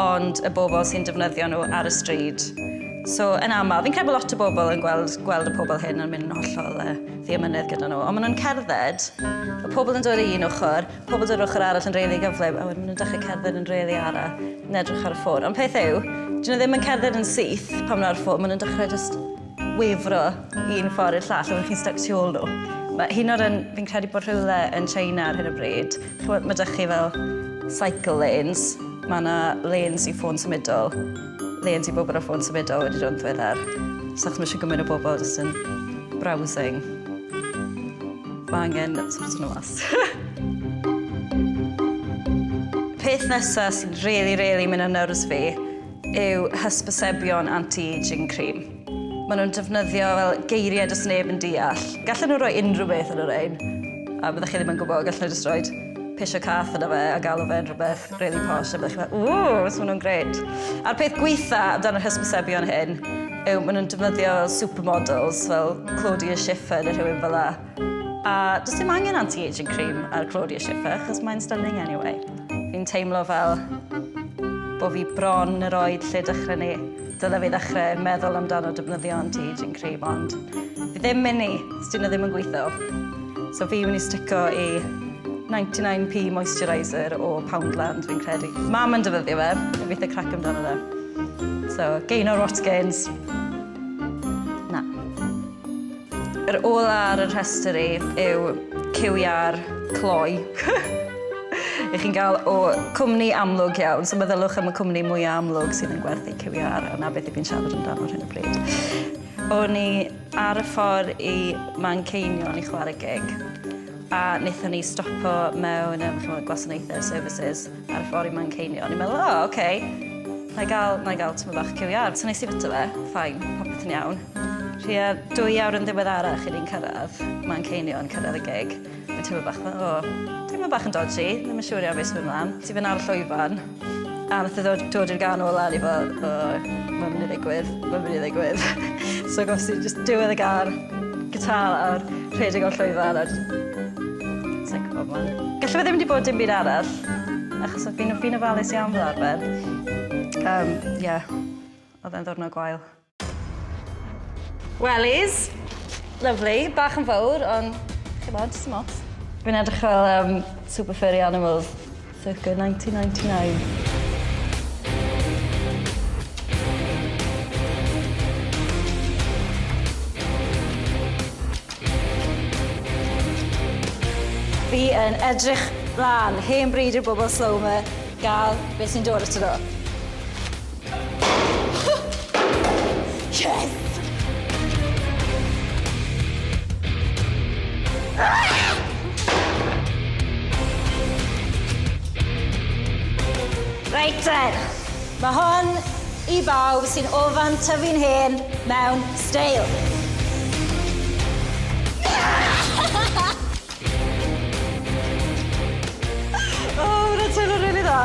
ond y bobl sy'n defnyddio nhw ar y stryd. So, yn aml, fi'n credu bod lot o bobl yn gweld, gweld y pobl hyn yn mynd yn hollol uh, ddiamynedd gyda nhw, ond maen nhw'n cerdded, y pobl yn dod i un ochr, pobl dod ochr arall yn reili gyflym, a wedyn maen nhw'n dechrau cerdded yn reili ara, yn edrych ar y ffôn. Ond peth yw, dyn nhw ddim yn cerdded yn syth pan nhw'n ar y ffôn, maen nhw'n dechrau just wefru un ffordd i'r llall, oeddech chi'n stuck tu ôl nhw. Mae hyn o'r un, fi'n credu bod rhywle yn China ar hyn o bryd, chwbod, mae dych chi fel cycle lanes, mae yna lanes i ffôn symudol, lanes i bobl o ffôn symudol wedi dod yn ddiweddar. So achos mae eisiau gymaint o bobl jyst yn browsing, mae angen sort nhw mas. Peth nesaf sy'n rili, rili mynd ar nerves fi, yw hysbysebion anti-ageing cream. Maen nhw'n defnyddio fel geiriau does neb yn deall. Gallen nhw roi unrhyw beth yn y rein, a byddwch chi ddim yn gwybod, gallen nhw jyst roi pisio cath yna fe a galw fe'n rhywbeth really posh a byddwch chi'n meddwl, ww, maen nhw'n gret. A'r peth gweitha amdano'r hysbysebion hyn yw maen nhw'n defnyddio fel supermodels, fel Claudia Schiffer neu rhywun fel la. A does dim angen anti-aging cream ar Claudia Schiffer, achos mae'n stunning anyway. Fi'n teimlo fel bod fi bron yr oed lle dechrau ni. Dyle fi ddechrau meddwl amdano defnyddio anti-aging cream, ond fi ddim mynd i, os dyn nhw ddim yn gweithio. So fi mynd i stico i 99p moisturiser o Poundland, fi'n credu. Mam yn defnyddio fe, fi eitha crac amdano fe. So, gain or what gains. Na. Yr ola ar y rhestr i yw ciwiau'r cloi. Ych chi'n gael o cwmni amlwg iawn, so meddyliwch am y cwmni mwyaf amlwg sydd yn gwerthu ciwiau a 'na beth i fi'n siarad amdano ar hyn o bryd. O'n i ar y ffordd i Manceinion i chwarae gig a wnaethon ni stopo mewn gwasanaethau, services, Ar ffor i Manceinion. O'n i'n meddwl, o, oce, na i gael, na i gael tymor bach cyw iar. So nes i fita fe, ffain, popeth yn iawn. Rhia dwy awr yn ddiweddarach i ni'n cyrraedd Manceinion, cyrraedd y gig. Mae'n teimlo bach fel, o, teimlo bach yn dodgy, ddim yn siŵr iawn beth sy'n mynd mlaen. Ti fyna ar y llwyfan, a nath e ddod, dod i'r gan ola, a ni fel, o, mae'n mynd i ddigwydd, mae'n mynd i ddigwydd. so gos i jyst diwedd y gan, gitar lawr, rhedeg o'r llwyfan, a jyst... Sa'n gwybod man. Gallai fe ddim wedi bod dim byd arall, achos oedd fi'n fi ofalus iawn fel arfer. Um, yeah. Oedd e'n ddwrnod gwael. Wellies. Lovely. Bach yn fawr, ond chi'n bod, dim ots. Fi'n edrych fel um, super furry animals. Circa 1999. Fi yn edrych mlan hen bryd i'r bobol slow 'ma ga'l beth sy'n dod ato nw. Reit te, mae hon i bawb sy'n ofan tyfu'n hen mewn steil. o, mae'n teimlo rili dda.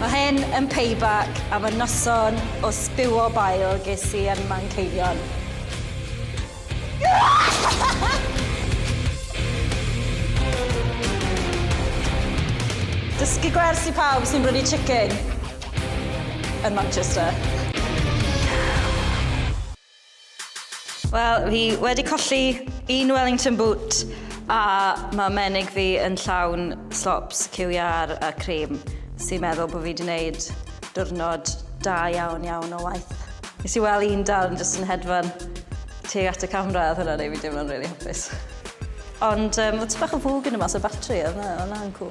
Mae hyn yn payback am y noson o sbiwo bail ges i yn Manceinion. Dysgu gwers i pawb sy'n brynu chicken yn Manchester. Wel, fi wedi colli un Wellington boot a mae menig fi yn llawn slops, QER a cream sy'n meddwl bod fi wedi gwneud diwrnod da iawn iawn o waith. Nes i weld un dal yn jyst yn hedfan tuag at y camera, oedd hwnna'n ei fi deimlo'n rili hapus. Ond um, oedd tipyn bach o fwg yn y mas o batri, oedd hwnna'n cwl.